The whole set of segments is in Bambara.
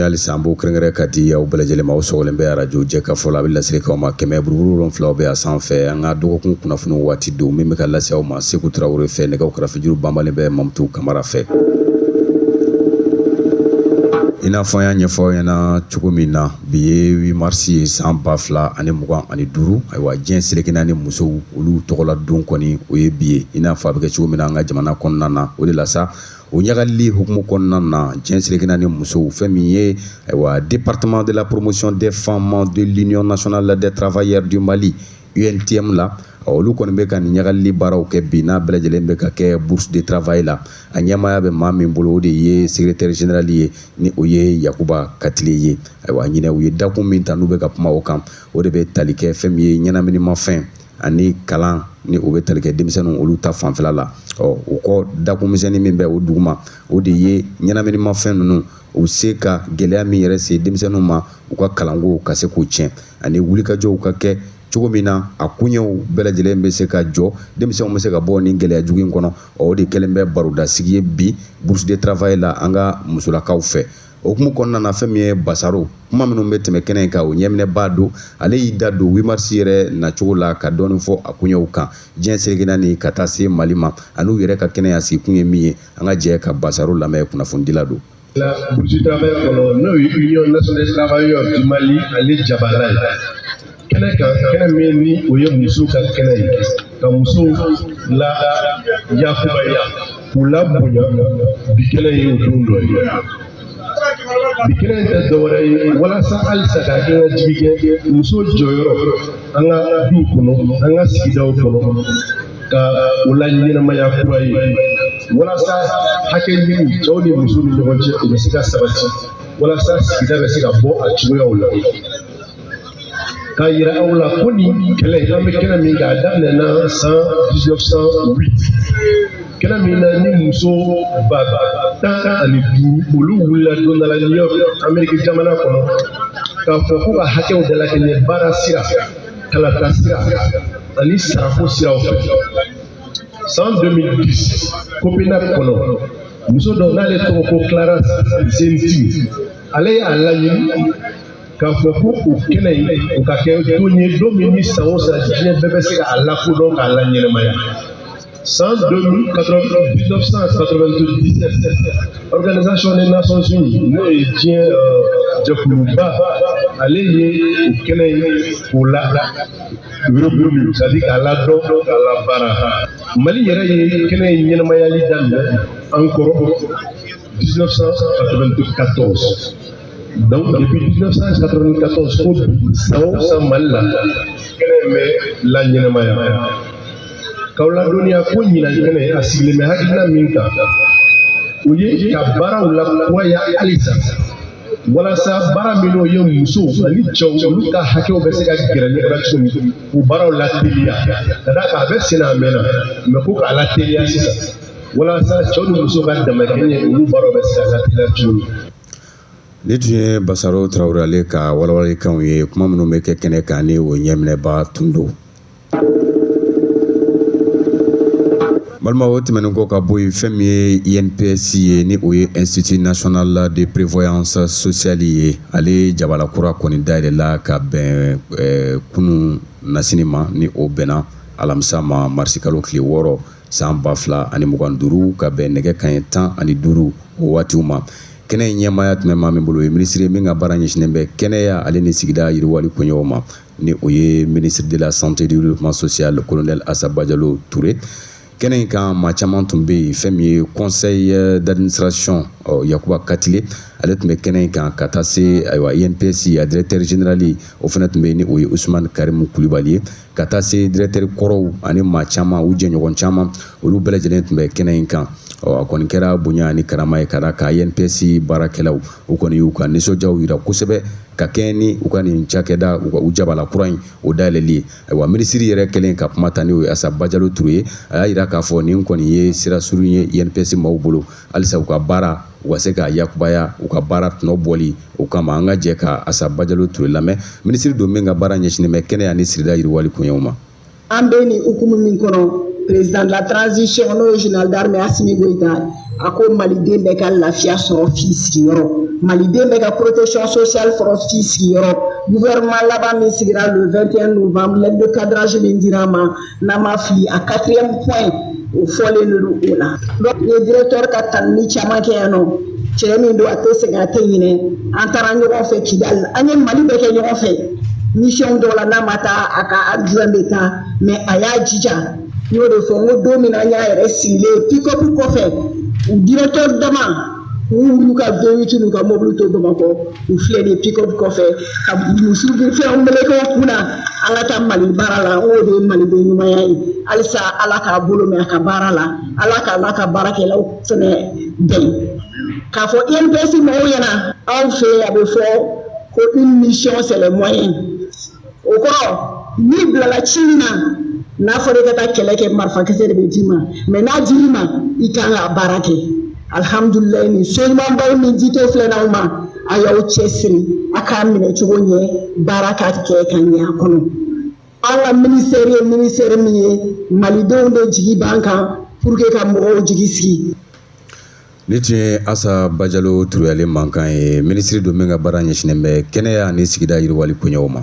halisa an b'o kɛrɛnkɛrɛn ka di aw bɛɛ lajɛlen ma aw sɔgɔlen bɛ arajo jɛkafɔ la a bɛ laseli k'aw ma kɛmɛ buruburu wolonfila aw bɛ a sanfɛ an ka dɔgɔkun kunnafoni waati don min bɛ ka lase aw ma seku tarawele fɛ nɛgɛw karafejuru banbalen bɛ mamutu kamara fɛ i n'a fɔ an y'a ɲɛfɔ aw ɲɛna cogo min na bi ye 8 marisi ye san ba fila ani mugan ani duuru ayiwa diɲɛ seleke naani musow olu tɔgɔla don kɔni o ye bi ye i n'a fɔ a bɛ kɛ cogo min na an ka jamana kɔnɔna na o de la sa O ɲagalili hukumu kɔnɔna na diɲɛ seleke naani musow fɛn min ye ayiwa département de la promotion des femmes de l'union nationale des travailleurs du Mali UNTM la olu kɔni bɛ ka nin ɲagalili baaraw kɛ bi n'a bɛɛ lajɛlen bɛ ka kɛ bourse de travail la a ɲɛmaaya bɛ maa min bolo o de ye secrétaire général ye ni o ye Yakuba Katile ye ayiwa ɲinɛ u ye dakun min ta n'u bɛ ka kuma o kan o de bɛ tali kɛ fɛn min ye ɲɛnaminimafɛn ani kalan ni o bɛ tali kɛ denmisɛnninw olu ta fanfɛla la ɔ o kɔ dakun misɛnnin min bɛ o duguma o de ye ɲɛnaminimafɛn ninnu u se ka gɛlɛya min yɛrɛ se denmisɛnninw ma u ka kalanko ka se k'o tiɲɛ ani wulikajɔw ka kɛ cogo min na a koɲɛw bɛɛ lajɛlen bɛ se ka jɔ denmisɛnw bɛ se ka bɔ nin gɛlɛya jugu in kɔnɔ o de kɛlen bɛ barodasigi ye bi bourse de travail la an ka musolakaw fɛ o hukumu kɔnɔna na fɛn min ye basaro kuma minnu bɛ tɛmɛ kɛnɛ in kan o ɲɛminɛbaa don ale y'i da don 8 marisi yɛrɛ nacogo la ka dɔɔni fɔ a koɲɛw kan diɲɛ seleke naani ka taa se mali ma an'u yɛrɛ ka kɛnɛ a sigikun ye min ye an ka jɛ ka basaro lamɛn kunnafonidila don bourse de travail kɔnɔ n'o ye union nationale des travailleurs du mali ale jabala ye kɛnɛ kan kɛnɛ min ni o ye musow ka kɛnɛ ye ka musow la yakubaya k'u labonya bi kɛnɛ ye o don dɔ ye bi kɛnɛ in tɛ dɔwɛrɛ ye walasa halisa ka hakilijigi kɛ muso jɔyɔrɔ an ka duw kɔnɔ an ka sigidaw kɔnɔ ka o laɲɛnamaya kura ye walasa hakɛ ɲini cɛw ni musow ni ɲɔgɔn cɛ o bɛ se ka sabati walasa sigida bɛ se ka bɔ a cogoyaw la k'a yira aw la ko nin kɛnɛ an bɛ kɛnɛ min kan a daminɛna san 1908 kɛnɛ min na ni muso ba tan ani duuru olu wulila don dɔ la New York Ameriki jamana kɔnɔ k'a fɔ ko ka hakɛw dalakɛɲɛ baara sira kalata sira ani sarako siraw fɛ san 2010 Copenhague kɔnɔ muso dɔ n'ale tɔgɔ ko Clara Zetkin ale y'a laɲini k'a fɔ ko o kɛnɛ in o ka kɛ don ye don min ni san o san diɲɛ bɛɛ bɛ se ka a lakodɔn k'a laɲɛnamaya san 1997 organisation des nations unies n'o ye diɲɛ jɛkuluba ale ye o kɛnɛ in k'o la yuruguyurugu c'est à dire k'a ladɔn k'a labaara mali yɛrɛ ye kɛnɛ in ɲɛnamayali daminɛ encore 1994 Donc depuis 1994 fo bi san o san Mali la kɛnɛ in bɛ laɲɛnamaya k'aw ladɔnniya ko ɲinan kɛnɛ a sigilen bɛ hakilina min kan o ye ka baaraw lakuraya halisa walasa baara minnu ye musow ani cɛw olu ka hakɛw bɛ se ka gɛrɛ ɲɔgɔn na cogo min k'o baaraw lateliya ka d'a kan a bɛ sen na a mɛnna mais ko k'a lateliya sisan walasa cɛw ni musow ka damakɛɲɛ olu baaraw bɛ se ka lateliya cogo min Nin tun ye Basaro Tarawele ale ka walawalalikanw ye kuma minnu bɛ kɛ kɛnɛ kan ni o ɲɛminɛba tun don balima o tɛmɛnen kɔ ka bɔ yen fɛn min ye INPS ye ni o ye Institut National de Prévoyance Sociale ye ale jabala kura kɔni dayɛlɛla ka bɛn kunun nasini ma ni o bɛnna alamisa ma marisikalo tile wɔɔrɔ san ba fila ani mugan duuru ka bɛn nɛgɛ kanɲɛ tan ani duuru o waatiw ma kɛnɛ in ɲɛmaaya tun bɛ maa min bolo o ye minisiri ye min ka baara ɲɛsinnen bɛ kɛnɛya ale ni sigida yiriwali koɲɛw ma ni o ye ministre de la santé et du développement social colonel asa bajalo ture kɛnɛ in kan maa caman tun bɛ yen fɛn min ye conseil euh, d'administration euh, yakuba katile ale tun bɛ kɛnɛ in kan ka taa se ayiwa inps a directeur général o fana tun bɛ yen ni o ye usumani karimu kulubali ye ka taa se directeur kɔrɔw ani maa caman u jɛɲɔgɔn caman olu bɛɛ lajɛlen tun bɛ kɛnɛ in kan a kɔni kɛra bonya ani karama ye ka d'a kan INPS baarakɛlaw u kɔni y'u ka nisɔndiyaw yira kosɛbɛ ka kɛɲɛ ni u ka nin cakɛda u jabala kura in o dayɛlɛli ye ayiwa minisiri yɛrɛ kɛlen ka kuma ta n'o ye Asa Bajalo Ture ye a y'a yira k'a fɔ nin kɔni ye sira surun ye INPS maaw bolo halisa u ka baara u ka se k'a yakubaya u ka baara tɔnɔ bɔli o kama an ka jɛ ka asa bajalo ture lamɛn minisiri don min ka baara ɲɛsinnen bɛ kɛnɛya ni sigida yiriwali koɲɛw ma an bɛ nin hukumu min kɔnɔ président de la transition n'o ye général d'armée Assimi Goïta a ko maliden bɛɛ ka lafiya sɔrɔ f'i sigiyɔrɔ maliden bɛɛ ka protection sociale sɔrɔ f'i sigiyɔrɔ gouvernement laban min sigira le 21 novembre lettre de cadrage min dir'a ma n'an ma fili a quatrième point o fɔlen de don o la n ye directeur ka tanuni caman kɛ yan nɔ cɛ min don a tɛ sɛgɛn a tɛ ɲinɛ an taara ɲɔgɔn fɛ kidali an ye mali bɛɛ kɛ ɲɔgɔn fɛ mission dɔw la n'a ma taa a ka adjoint bɛ taa mais a y'a jija n y'o de fɔ n ko don min na an y'a yɛrɛ sigilen ye pick up kɔfɛ u directeur dama n'u ka V8 n'u ka mobili to bamakɔ u filɛ de pick up kɔfɛ ka muso fɛnw meleke u kun na an ka taa mali baara la o de ye maliden ɲumanya ye halisa ala k'a bolo mɛn a ka baara la ala k'a n'a ka baarakɛlaw fɛnɛ bɛn k'a fɔ INPS mɔgɔw ɲɛna anw fɛ a bɛ fɔ ko une mission c'est les moyens o kɔrɔ n'i bilala ci min na n'a fɔra i ka taa kɛlɛ kɛ marifakisɛ de bɛ d'i ma mais n'a dir'i ma i kan k'a baara kɛ alihamudulilayi nin so ɲumanbaw ni jito filɛ n'aw ma a y'aw cɛsiri a k'a minɛ cogo ɲɛ baara ka kɛ ka ɲɛ a kɔnɔ an ka minisitɛri ye minisitɛri min ye malidenw de jigi b'an kan pour que ka mɔgɔw jigi sigi Nin tun ye Asa Bajalo Ture ale mankan ye, minisiri don min ka baara ɲɛsinnen bɛ kɛnɛya ni sigida yiriwali koɲɛw ma.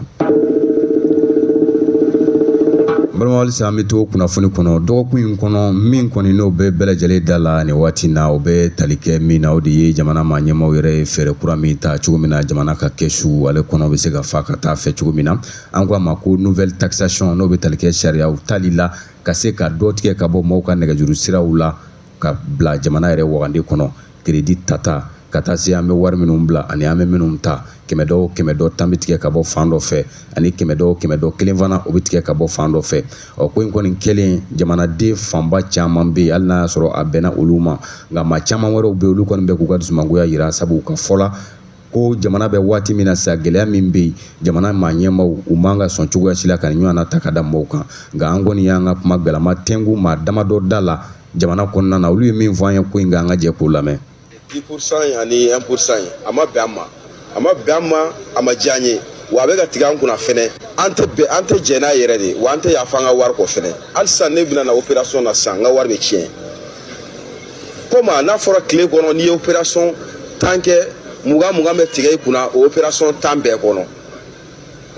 Balima halisa an bɛ to kunnafoni kɔnɔ dɔgɔkun in kɔnɔ min kɔni n'o bɛ bɛɛ lajɛlen da la nin waati na o bɛ tali kɛ min na o de ye jamana maa ɲɛmaaw yɛrɛ ye fɛɛrɛ kura min ta cogo min na jamana ka kɛsu ale kɔnɔ bɛ se ka fa ka taa fɛ cogo min na an ko a ma ko nouvelle taxation n'o bɛ tali kɛ sariyaw tali la ka se ka dɔ tigɛ ka bɔ maaw ka nɛgɛjuru siraw la ka bila jamana yɛrɛ wagande kɔnɔ crédit tata ka taa se an bɛ wari minnu bila ani an bɛ minnu ta kɛmɛ dɔ kɛmɛ dɔ tan bɛ tigɛ ka bɔ fan dɔ fɛ ani kɛmɛ dɔ kɛmɛ dɔ kelen fana o bɛ tigɛ ka bɔ fan dɔ fɛ ɔ ko in kɔni kɛlen jamanaden fanba caman bɛ yen hali n'a y'a sɔrɔ a bɛnna olu ma nka maa caman wɛrɛw bɛ yen olu kɔni bɛ k'u ka dusumangoya jira sabu u ka fɔ la ko jamana bɛ waati min na sa gɛlɛya min bɛ yen jamana maa ɲɛmaaw u man ka sɔn cogoya si la ka nin ɲɔgɔnna ta ka da maaw kan nka an kɔni y'an ka kuma galama tɛnku maa damadɔ da la jamana kɔnɔna na olu ye min fɔ an ye ko in kan an ka jɛ k'o lamɛn. 10% in ani 1% in a ma bɛn an ma a ma bɛn an ma a ma diya an ye wa a bɛ ka tigɛ an kunna fɛnɛ an tɛ bɛn an tɛ jɛn n'a yɛrɛ de wa an tɛ yafa an ka wari kɔ fɛnɛ hali sisan ne bɛna na opération na sisan n ka wari bɛ tiɲɛ. komi a n'a fɔra tile kɔnɔ n'i ye opération tan kɛ mugan mugan bɛ tigɛ i kunna o opération tan bɛɛ kɔnɔ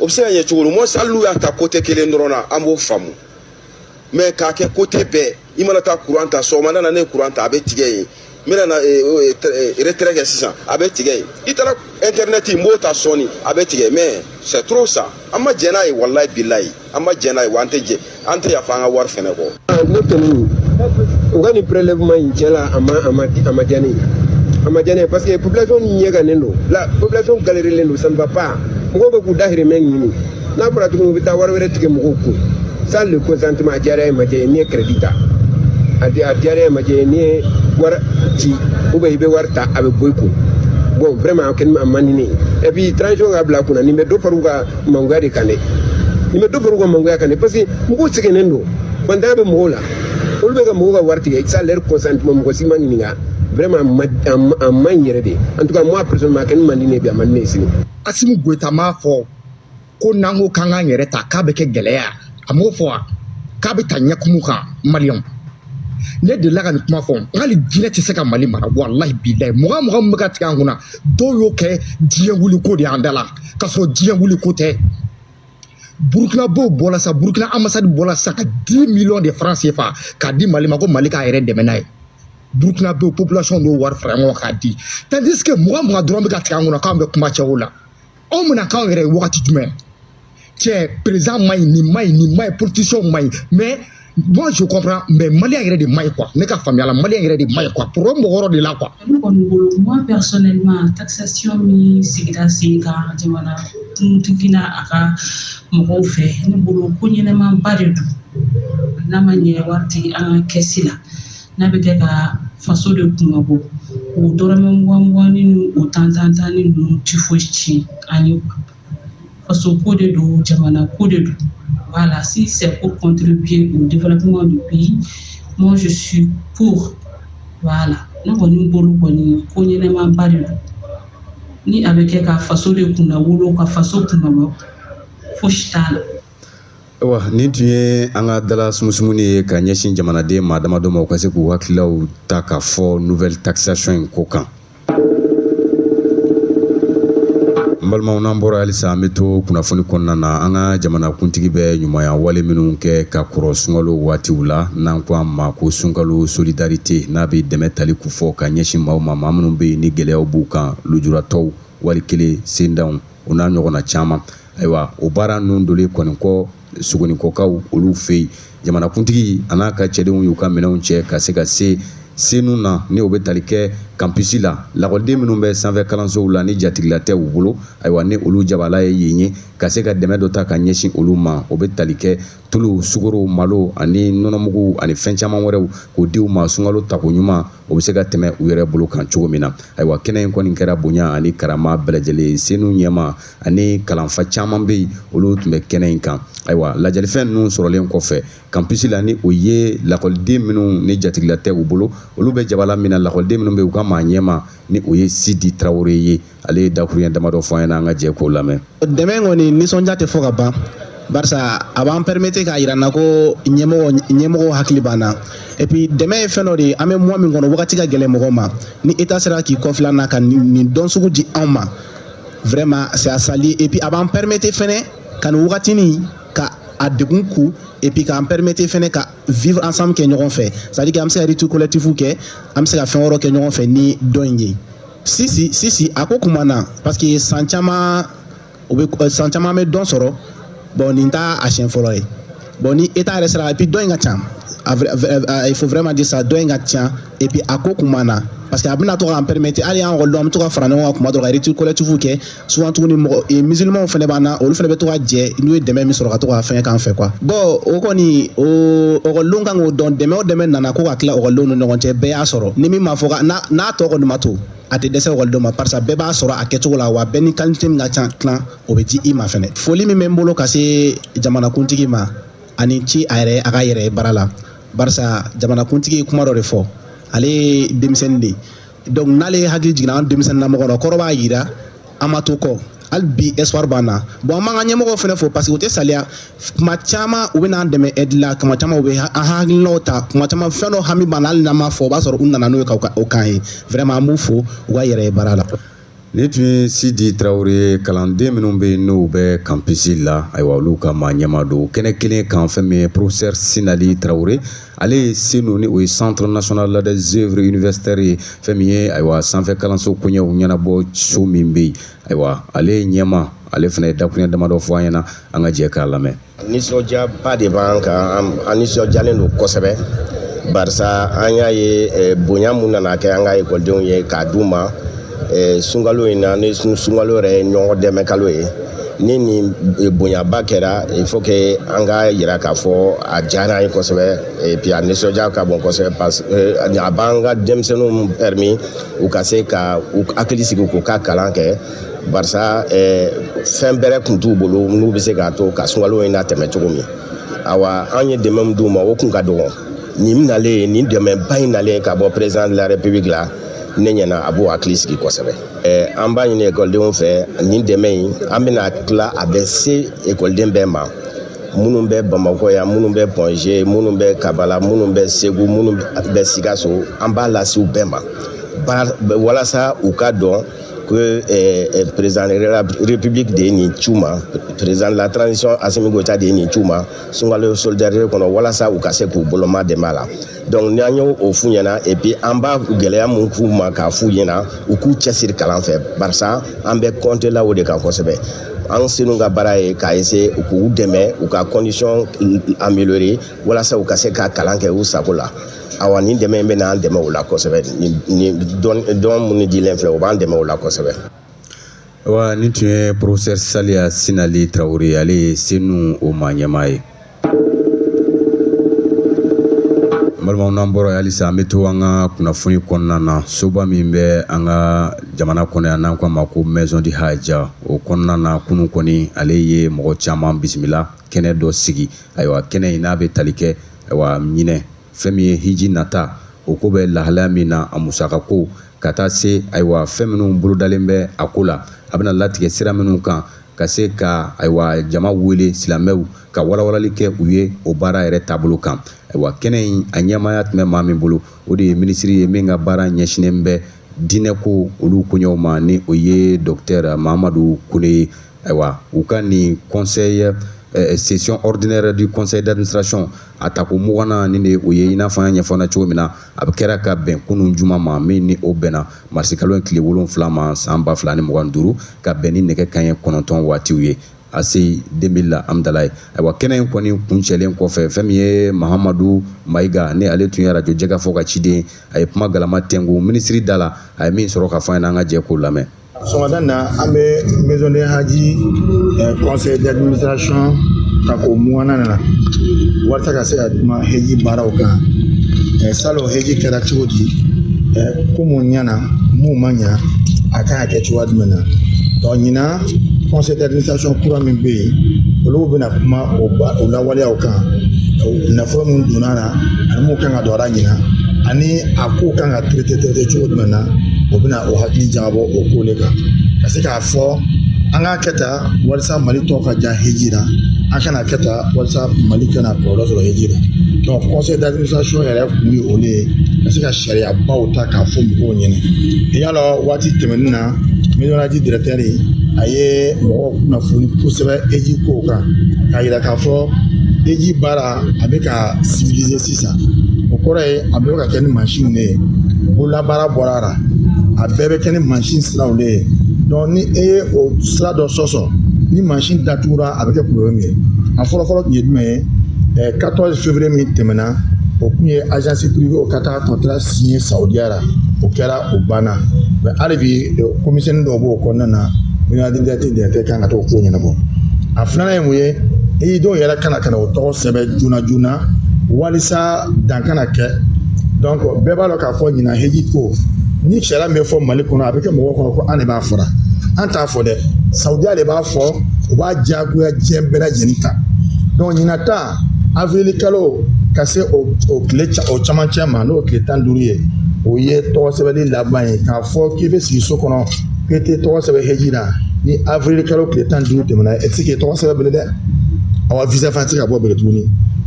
o bɛ se ka ɲɛ cogo di mɔ hali n'u y'a ta côté kelen dɔrɔn na an b'o faamu mais k'a kɛ côté bɛɛ i mana taa kuran ta sɔgɔmada na ne ye kuran ta a bɛ tigɛ yen n bɛna na retrait kɛ sisan a bɛ tigɛ yen i taara internet n b'o ta sɔɔni a bɛ tigɛ mais c'est trop ça an ma jɛn n'a ye walayi bilayi an ma jɛn n'a ye wa an tɛ jɛn an tɛ yafa an ka wari fɛnɛ kɔ. ne kɔni u ka nin prelèvement in cɛ la a ma a ma a ma diya ne ye a ma diya ne ye parce que population ɲɛgannen don la population galérilen don ça ne va pas mɔgɔw bɛ k'u dahirimɛ ɲini n'a fɔra tuguni u bɛ taa wari wɛrɛ tigɛ mɔgɔw kun sans le consentement a diyara i ye a ma diya i ye n'i ye crédit ta a di a diyara i ye a ma diya i ye n'i ye wari ci ou bien i bɛ wari ta a bɛ bɔ i kun bon vraiment a kɛni a man di ne ye et puis transition u k'a bila u kunna nin bɛ dɔ fara u ka mangoya de kan dɛ nin bɛ dɔ fara u ka mangoya kan dɛ parce que mɔgɔw sɛgɛnnen don faantanya bɛ mɔgɔw la olu bɛ ka mɔgɔw ka wari tigɛ sans leur consentement mɔgɔ si ma ɲininka vraiment a ma a ma- a man ɲi yɛrɛ de en tout cas moi personnellement a kɛni man di ne ye bi a man di ne ye sini Asimi Goyita m'a fɔ ko n'an ko k'an k'an yɛrɛ ta k'a bɛ kɛ gɛlɛya a m'o fɔ wa k'a bɛ ta ɲɛkumu kan maliyɛnw ne delila ka nin kuma fɔ hali jinɛ tɛ se ka mali mara walahi bilayi mugan mugan min bɛ ka tigɛ an kunna dɔw y'o kɛ diɲɛ wuliko de y'an da la k'a sɔrɔ diɲɛ wuliko tɛ burukinabɛw bɔla sa burukina ambassade bɔla sa ka dix millions de francs CFA k'a di mali ma ko mali k'a yɛrɛ dɛmɛ n'a ye burukinabɛ population n'o wari fara ɲɔgɔn kan k'a di tandis que mugan mugan dɔrɔn bɛ ka tigɛ an kunna k'an bɛ kuma cɛw la anw bɛna k'anw yɛrɛ ye wagati jumɛn cɛ président man ɲi nin man ɲi nin man ɲi politisiyɛnw man ɲi mais moi je comprends mais maliyɛn yɛrɛ de man ɲi quoi ne ka faamuya la maliyɛn yɛrɛ de man ɲi quoi problème b'o yɔrɔ de la quoi. ne kɔni bolo moi personnellement taxation min sigira sen kan jamana kuntigi n'a a ka mɔgɔw fɛ ne bolo ko ɲɛnɛmanba de don n'a ma ɲɛ wari tɛ an ka kɛsi la. n'a bɛ kɛ ka faso de kunmabɔ o dɔrɔmɛ mugan mugan ni o tan tan tan ni ninnu ti foyi tiɲɛ an ye faso ko de don jamana ko de don voilà si c'est pour contribuer au développement du pays moi je suis pour voilà ne kɔni bolo kɔni ko ɲɛnɛmanba de don ni a bɛ kɛ ka faso de kunnawolo ka faso kunmabɔ fosi t'a la Ayiwa nin tun ye an ka dala sumusumuni ye ka ɲɛsin jamanaden maa damadɔ ma u ka se k'u hakililaw ta k'a fɔ nouvelle taxation in ko kan. N balimaw n'an bɔra halisa an bɛ to kunnafoni kɔnɔna na an ka jamanakuntigi bɛ ɲumanya wale minnu kɛ ka kɔrɔ sunkalo waatiw la n'an ko a ma ko sunkalo solidarite n'a bɛ dɛmɛ tali kofɔ ka ɲɛsin maaw ma maa minnu bɛ yen ni gɛlɛyaw b'u kan lujuratɔw wali kelen sendanw o n'a ɲɔgɔnna caman ayiwa o baara ninnu doli kɔni kɔ sogoninkɔkaw olu fɛ yen jamanakuntigi a n'a ka cɛdenw y'u ka minɛnw cɛ ka se ka se senu na ni o bɛ tali kɛ kanpisi la lakɔliden minnu bɛ sanfɛ kalansow la ni jatigila tɛ u bolo ayiwa ni olu jabala ye yen ye ka se ka dɛmɛ dɔ ta ka ɲɛsin olu ma o bɛ tali kɛ tulu sukaro malo ani nɔnɔmugu ani fɛn caman wɛrɛw k'o di u ma sunkalo tako ɲuman o bɛ se ka tɛmɛ u yɛrɛ bolo kan cogo min na ayiwa kɛnɛ in kɔni kɛra bonya ani karama bɛɛ lajɛlen senu ɲɛmaa ani kalanfa caman bɛ yen olu tun bɛ kɛnɛ in kan ayiwa ladiyalifɛn ninnu sɔrɔlen kɔfɛ kanpisi la ni o ye lakɔliden minnu ni jatigila tɛ u bolo olu bɛ jabala min na lakɔliden minnu bɛ yen u ka maa ɲɛmaa ni o ye sidi tarawele ye ale ye dakuruɲɛ damadɔ fɔ an ɲɛna an ka jɛ k'o lamɛn dɛmɛ kɔni nisɔndiya tɛ fɔ ka ban barisa a b'an permettre k'a yira n na ko ɲɛmɔgɔ ɲɛmɔgɔw hakili b'an na et puis dɛmɛ ye fɛn dɔ de ye an bɛ mois min kɔnɔ wagati ka gɛlɛn mɔgɔ ma ni état sera k'i kɔfilɛ an na ka nin don sugu di anw ma vraiment c'est à saluer et puis a b'an permettre fɛnɛ ka nin wagatinin ka a degun kun et puis k'an permettre fɛnɛ ka vivre ensemble kɛ ɲɔgɔn fɛ c'est à dire que an bɛ se ka rupture collective kɛ an bɛ se ka fɛn wɛrɛw kɛ ɲɔgɔn fɛ ni don in ye sisi sisi a ko kuma na parce que san caman u bɛ san caman bɛ don sɔrɔ bon nin t'a a siɲɛ fɔlɔ ye. bon ni état yɛrɛ sera et puis dɔ in ka ca il faut vraiment dire ça dɔ in ka ca et puis a ko kun b'an na parce que a bɛna to k'an permettre hali an ekɔlidenw an bɛ to ka fara ɲɔgɔn kan kuma dɔ ka rupture collective kɛ souvent tuguni mɔgɔ e, musulmanw fana b'an na olu fana bɛ to ka jɛ n'u ye dɛmɛ min sɔrɔ ka to k'a fɛngɛ k'an fɛ quoi bon o kɔni o ekɔlidenw kan k'o dɔn dɛmɛ o dɛmɛ nana ko ka tila ekɔlidenw ni ɲɔgɔn cɛ bɛɛ y'a sɔrɔ ni min ma fɔ ka n'a tɔ kɔni ma to a tɛ dɛsɛ ekɔlidenw ma parce que bɛɛ b'a sɔrɔ a kɛcogo la wa bɛɛ ni qualité min ka ca tilan o bɛ di i ma fɛnɛ foli min bɛ n bolo ka se jamanakuntigi ma a ni ce a yɛrɛ a ka yɛrɛ ye baara la barisa jamanakuntigi ye kuma dɔ de fɔ ale ye denmisɛnnin de ye donc n'ale hakili jiginna an denmisɛnnin na mɔgɔ la kɔrɔ b'a yira an ma to kɔ hali bi espoir b'an na bon an b'an ka ɲɛmɔgɔw fana fo parce que u tɛ saliya kuma caman u bɛ n'an dɛmɛ aide la kuma caman u bɛ an hakilinaw ta kuma caman fɛn dɔ hami b'an na hali n'an m'a fɔ o b'a sɔrɔ u nana n'o ye ka o k'an ye vraiment an b'u fo u ka yɛrɛ ye baara la Nin tun ye Sidi Tarawele ye kalanden minnu bɛ yen n'u bɛ campus la ayiwa olu ka maa ɲɛmaa don o kɛnɛ kelen kan fɛn min ye professeur Sinali Tarawele ale ye senu ni o ye centre national des œuvres universitaires ye fɛn min ye ayiwa sanfɛ kalanso koɲɛw ɲɛnabɔ so min bɛ yen ayiwa ale ɲɛmaa ale fana ye dakuruɲɛ damadɔ fɔ an ɲɛna an ka jɛ k'a lamɛn. nisɔndiyaba de b'an kan an nisɔndiyalen don kosɛbɛ barisa an y'a ye eh, bonya min nana kɛ an ka ekɔlidenw ye k'a d'u ma eh, sunkalo in na ni sunkalo yɛrɛ ye ɲɔgɔn dɛmɛ kalo ye ni nin eh, bonyaba kɛra il faut que an ka yira k'a fɔ a diyara an ye kosɛbɛ et puis a nisɔndiya ka bon kosɛbɛ parce que a b'an ka denmisɛnninw permis u ka se ka u hakili sigi k'u ka kalan kɛ barisa eh, fɛn bɛrɛ tun t'u bolo n'u bɛ se k'a to ka sunkalo in natɛmɛ cogo min awa an ye dɛmɛ min d'u ma o kun ka dɔgɔn nin nalen nin dɛmɛba in nalen ka bɔ président de la république la ne ɲɛna a b'o hakili sigi kosɛbɛ eh, an b'a ɲini ekɔlidenw fɛ nin dɛmɛ in an bɛna tila a bɛ se ekɔliden bɛɛ ma minnu bɛ bamakɔ yan minnu bɛ Point G minnu bɛ kabala minnu bɛ segu minnu bɛ sikaso an b'a lase u bɛɛ ma walasa u ka dɔn ko eh, eh, président de la république de ye nin ci u ma président de la transition Assimi Goïta de ye nin ci u ma sunkalo solidarité kɔnɔ walasa u ka se k'u boloma dɛmɛ a la donc n'an y'o f'u ɲɛna et puis an b'a gɛlɛya min k'u ma k'a f'u ɲɛna u k'u cɛsiri kalan fɛ barisa an bɛ compter la o de kan kosɛbɛ an senu ka baara ye k'a essayer k'u dɛmɛ u ka condition améliorer walasa u ka se ka kalan kɛ u sago la awa nin dɛmɛ in bɛna an dɛmɛ o la kosɛbɛ ni dɔn minnu dilen filɛ o b'an dɛmɛ o la kosɛbɛ wa nin tun ye professeur saliya sinali tarawele ale ye senu o maa ɲɛmaa ye balimaw n'an bɔra halisa an bɛ to an ka kunnafoni kɔnɔna na soba min bɛ an ka jamana kɔnɔ yan n'an k'a ma ko maison du hajj o kɔnɔna na kunun kɔni ale ye mɔgɔ caman bisimila kɛnɛ dɔ sigi ayiwa kɛnɛ in n'a bɛ tali kɛ ayiwa ɲinɛ fɛn min ye hiji nata o ko bɛ lahalaya min na a musaka ko ka taa se ayiwa fɛn minnu bolodalen bɛ a ko la a bɛna latigɛ sira minnu kan ka se ka ayiwa jama wele silamɛw ka walawalali kɛ u ye o baara yɛrɛ taabolo kan ayiwa kɛnɛ in a ɲɛmaaya tun bɛ maa min bolo o de ye minisiri ye min ka baara ɲɛsinnen bɛ diinɛko olu koɲɛw ma ni o ye docteur mahamadu kone ye ayiwa u ka nin conseil eh, session ordinaire du conseil d'administration a tako muganan nin de o ye i n'a fɔ an y'a ɲɛfɔ na cogo min na a bɛ kɛra ka bɛn kunun juma ma min ni o bɛnna marisikalo in tile wolonfila ma san ba fila ni mugan duuru ka bɛn ni nɛgɛ kaɲɛ kɔnɔntɔn waatiw ye aci deux mille la amdalaye ayiwa kɛnɛ in kɔni kuncɛlen kɔfɛ fɛn min ye mahamadu mayiga ni ale tun ye arajo jɛkafɔ ka ciden a ye kuma galama tɛnku minisiri da la a ye min sɔrɔ ka fɔ an ye an ka jɛ k'o lamɛn sɔgɔmada na an bɛ maison de haji eh, conseil d'administration tako muganan na walasa ka se ka kuma heji baaraw kan eh, salon heji kɛra cogo di eh, ko mun ɲana mun ma ɲa a kan ka kɛ cogoya jumɛn na donc ɲinan conseil d'administration kura min bɛ yen olu bɛna kuma o la waleyaw kan nafolo min donna a la ani mun kan ka don a la ɲinan ani a ko kan ka traité traité cogo jumɛn na o bɛna o hakili jagabɔ o ko de kan ka se k'a fɔ an k'a kɛ tan walasa mali tɔgɔ ka diya heji la an kana kɛ tan walasa mali kana kɔlɔlɔ sɔrɔ heji la donc conseil d'administration yɛrɛ kun ye olu ye ka se ka sariyabaw ta k'a fɔ mɔgɔw ɲɛna i y'a lɔn waati tɛmɛnen na maison de haji directeur a ye mɔgɔw kunnafoni kosɛbɛ heji kow kan k'a yira k'a fɔ heji baara a bɛ ka civiliser sisan o kɔrɔ ye a bɛ ka kɛ ni mansinw de ye bololabaara bɔra a la a bɛɛ bɛ kɛ ni mansin siraw de ye donc ni e ye o sira dɔ sɔsɔ ni mansin datugura a bɛ kɛ problème ye a fɔlɔfɔlɔ tun ye jumɛn ye 14 février min tɛmɛna o tun ye agence privée o ka taa contrat signer Saudiya la o kɛra o banna mais hali bi ko misɛnnin dɔw b'o kɔnɔna na maison de haji directeur kan ka t'o ko ɲɛnabɔ a filanan ye mun ye i dɔw yɛrɛ ka na ka na o tɔgɔ sɛbɛn joona joona walisa dan kana kɛ donc bɛɛ b'a dɔn k'a fɔ ɲinan heji ko ni sariya min bɛ fɔ mali kɔnɔ a bɛ kɛ mɔgɔw kɔnɔ ko an de b'a fɔra an t'a fɔ dɛ sawudiya de b'a fɔ u b'a diyagoya diɲɛ bɛɛ lajɛlen kan donc ɲinan ta awilikalo ka se o o tile o camancɛ ma n'o tile tan duuru ye o ye tɔgɔ sɛbɛnni laban ye k'a fɔ k'i bɛ sigi so kɔnɔ k'i tɛ tɔgɔ sɛbɛn heji la ni awilikalo tile tan duuru tɛmɛna e tɛ se k'i tɔgɔ sɛbɛn bilen dɛ awa visa fana tɛ se ka bɔ bilen tuguni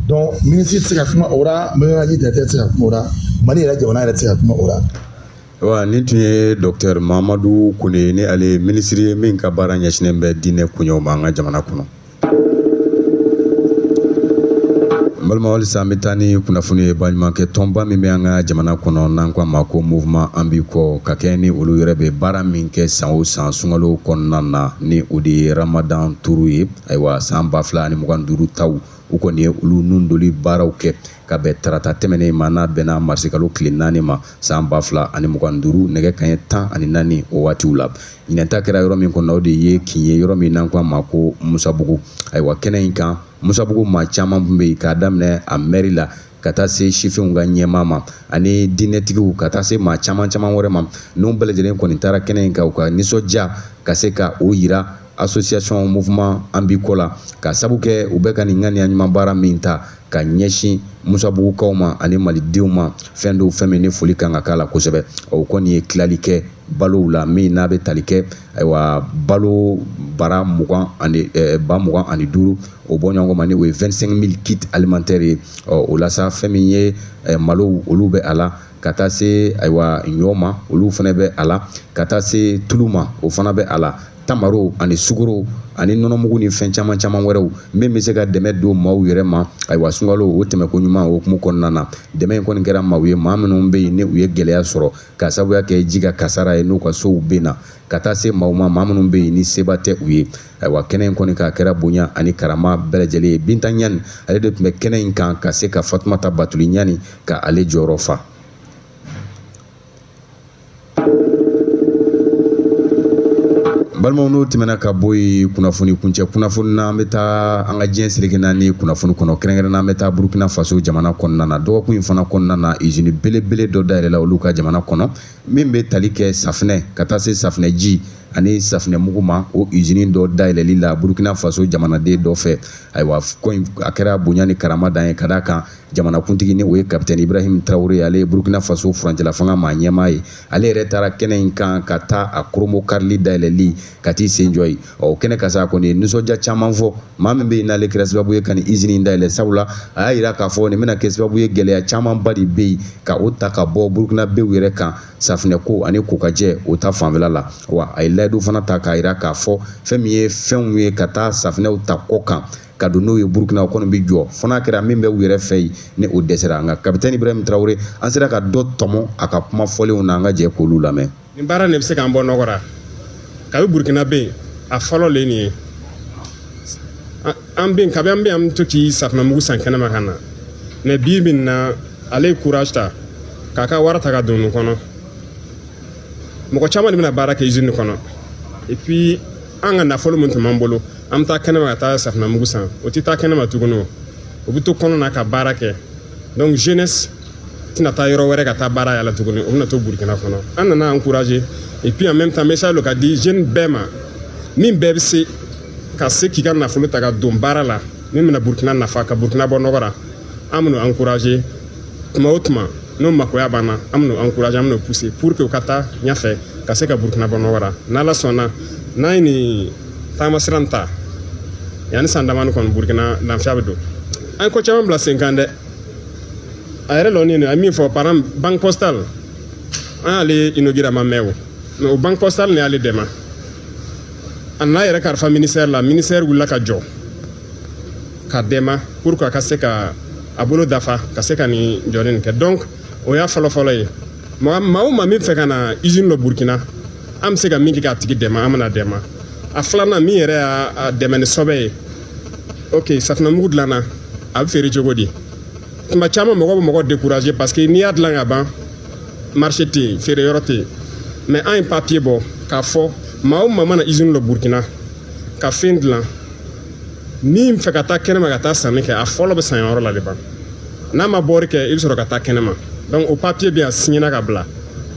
donc minisiri tɛ se ka kuma o la maison du hadj directeur tɛ se ka kuma o la mali yɛrɛ jamana yɛrɛ tɛ se ka kuma o la. wa nin tun ye dɔktɛr mahamadu kone ni ale ye minisiri ye min ka baara ɲɛsinen bɛ diinɛ koɲɛw ma an ka jamana kɔnɔ balima halisa an bɛ taa ni kunnafoni ye baɲumankɛ tɔnba min bɛ an ka jamana kɔnɔ n'an ko a ma ko mouvement an b'i kɔ ka kɛɲɛ ni olu yɛrɛ bɛ baara min kɛ san o san sunkalo kɔnɔna na ni o de ye ramadan turu ye ayiwa san ba fila ani mugan ni duuru taw u kɔni ye olu nun doli baaraw kɛ ka bɛn tarata tɛmɛnen ma n'a bɛnna marisikalo tile naani ma san ba fila ani mugan ni duuru nɛgɛ kaɲɛ tan ani naani o waatiw la ɲinɛ ta kɛra yɔrɔ min kɔnɔ o de ye kin ye yɔrɔ min n'an ko a ma ko musabugu ayiwa kɛnɛ in kan musabugu maa caman tun bɛ yen k'a daminɛ a mɛri la ka taa se sifinw ka ɲɛmaa ma ani diinɛtigiw ka taa se maa caman caman wɛrɛ ma ninnu bɛɛ lajɛlen kɔni taara kɛnɛ in kan u ka nisɔndiya ka se ka o yira association mouvement an b'i kɔ la ka sabu kɛ u bɛ ka nin ŋaniya ɲuman baara min ta ka ɲɛsin musabugukaw ma ani malidenw ma fɛn dɔw fɛn min ni foli kan ka k'a la kosɛbɛ o kɔni ye tilali kɛ balow la min n'a bɛ tali kɛ ayiwa balo bara mugan ani eh, ba mugan ani duuru o bɔ ɲɔgɔn ma ni o ye 25 mille kit alimantɛri ye ɔ o la sa fɛn min ye eh, malow olu bɛ a la ka taa se ayiwa ɲɔ ma olu fana bɛ a la ka taa se tulu ma o fana bɛ a la tamaro ani sugoro ani nɔnɔmugu ni fɛn caman caman wɛrɛw min bɛ se ka dɛmɛ don maaw yɛrɛ ma ayiwa sunkalo o tɛmɛko ɲuman o hukumu kɔnɔna na dɛmɛ in kɔni kɛra maaw ye maa minnu bɛ yen ni u ye gɛlɛya sɔrɔ ka sabuya kɛ ji ka kasara ye n'u ka sow binna ka taa se maaw ma maa minnu bɛ yen ni seba tɛ u ye ayiwa kɛnɛ in kɔni k'a kɛra bonya ani karama bɛɛ lajɛlen ye binta ɲani ale de tun bɛ kɛnɛ in kan ka se ka fatumata batuli ɲani ka ale jɔyɔrɔ fa balimaw n'o tɛmɛna ka bɔ yen kunnafoni kuncɛ kunnafoni na an bɛ taa an ka diɲɛ seleke naani kunnafoni kɔnɔ kɛrɛnkɛrɛnnen an bɛ taa burukina faso jamana kɔnɔna na dɔgɔkun in fana kɔnɔna na izini belebele dɔ dayɛlɛla olu ka jamana kɔnɔ min bɛ tali kɛ safinɛ ka taa se safinɛji ani safinɛmugu ma o izini dɔ dayɛlɛli la burukina faso jamanaden dɔ fɛ ayiwa ko in a kɛra bonya ni karama dan ye ka d'a kan jamanakuntigi ni o ye kapitɛni ibrahim tarawele ale ye burkina faso furancɛlafanga maa ɲɛmaa ye ale yɛrɛ taara kɛnɛ in kan ka taa a kurunbonkarili dayɛlɛli ka t'i sen jɔ yen o kɛnɛ kan sa a kɔni ye nisɔndiya caman fɔ maa min bɛ yen n'ale kɛra sababu ye ka nin izini in dayɛlɛ sabula a y'a jira k'a fɔ nin bɛna kɛ sababu ye gɛlɛya camanba de bɛ yen ka o ta ka bɔ burkinabew yɛrɛ kan safinɛko ani kokajɛ o ta fanfɛla la wa a ye layidu fana ta k'a jira k'a fɔ fɛn min ye fɛnw ye ka taa safinɛw ta kɔkan ka don n'o ye burukina o kɔni bɛ jɔ fo n'a kɛra min bɛ u yɛrɛ fɛ yen ni o dɛsɛra nka kapitɛni ibrahim tarawele an sera ka dɔ tɔmɔ a ka kuma fɔlenw na an ka jɛ k'olu lamɛn nin baara nin bɛ se k'an bɔ nɔgɔ la kabi burukina bɛ yen a fɔlɔ le nin ye an bɛ yen kabi an bɛ yen an bɛ to k'i safunɛmugu san kɛnɛma ka na mais bi bi nin na ale ye courage ta k'a ka wari ta ka don nin kɔnɔ mɔgɔ caman de bɛna baara kɛ izini kɔnɔ et puis an ka nafolo min tun b'an bolo an bɛ taa kɛnɛma ka taa safunɛmugu san o tɛ taa kɛnɛma tuguni o o bɛ to kɔnɔna ka baara kɛ donc jeunesse tɛna taa yɔrɔ wɛrɛ ka taa baara yaala tuguni o bɛna to burukina kɔnɔ an nana encourager et puis en même temps message lo ka di jeune bɛɛ ma min bɛɛ bɛ se ka se k'i ka nafolo ta ka don baara la min bɛna burukina nafa ka burukina bɔ nɔgɔ la an bɛn'o encourager tuma o tuma n'o makoya b'an na an bɛn'o encourager an bɛn'o pousser pour que u ka taa ɲɛfɛ ka se ka burukina bɔ nɔgɔ la n'ala sɔnna n'an ye nin taamasira ta yanni san damani kɔni burukina lafiya bɛ don an ye ko caman bila sen kan dɛ a yɛrɛ lɔni nin a ye min fɔ par exemple banque postale an y'ale inaugurer a ma mɛn o mais o banque postale nin y'ale dɛmɛ a nana yɛrɛ kalifa ministère la ministère wulila ka jɔ ka dɛmɛ pour que a ka se ka a bolo dafa ka se ka nin jɔli nin kɛ donc o y'a fɔlɔfɔlɔ ye maa maa o maa min fɛ ka na izini lɔ burukina an bɛ se ka min kɛ k'a tigi dɛmɛ an bɛna dɛmɛ a filanan min yɛrɛ y'a dɛmɛ ni sɔbɛ ye ok safinɛmugu dilanna a bɛ feere cogo di tuma caman mɔgɔ bɛ mɔgɔ décourager parce que n'i y'a dilan ka ban marché tɛ yen feere yɔrɔ tɛ yen mais an ye papiye bɔ k'a fɔ maa o maa mana izini lɔ burukina ka fɛn dilan min fɛ ka taa kɛnɛma ka taa sanni kɛ a fɔlɔ bɛ san yɔrɔ la de ban n'a ma bɔri kɛ i bɛ sɔrɔ ka taa kɛnɛma donc o papiye bɛ yan siɲɛna ka bila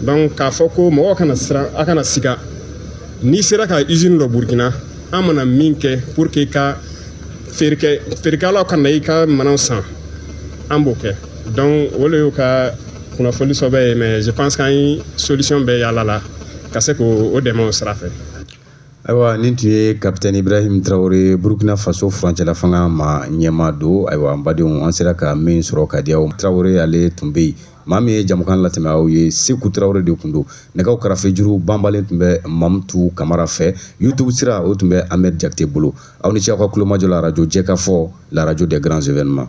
donc k'a fɔ ko mɔgɔ kana siran a kana siga n'i sera ka izini lɔ burukina an mana min kɛ pour que ka feerekɛ feerekɛlaw ka na i ka minɛnw san an b'o kɛ donc o de y'u ka kunnafoni sɔbɛ ye mais je pense k'an ye solution bɛɛ yaala la ka se k'o dɛmɛ o sira fɛ ayiwa nin tun ye kapitɛni ibrahim tarawele burkina faso furancɛla fanga ma ɲɛmaa don ayiwa an badenw an sera ka min sɔrɔ ka di aw tarawele ale tun bɛ yen maa min ye jɛmukan latɛmɛ aw ye seku tarawele de tun don nɛgɛw karafe juru banbalen tun bɛ mamutu kamara fɛ youtube sira o tun bɛ ahmed jakite bolo aw ni ce aw ka kulomajɔ la arajo jɛkafɔ la radio des grands événements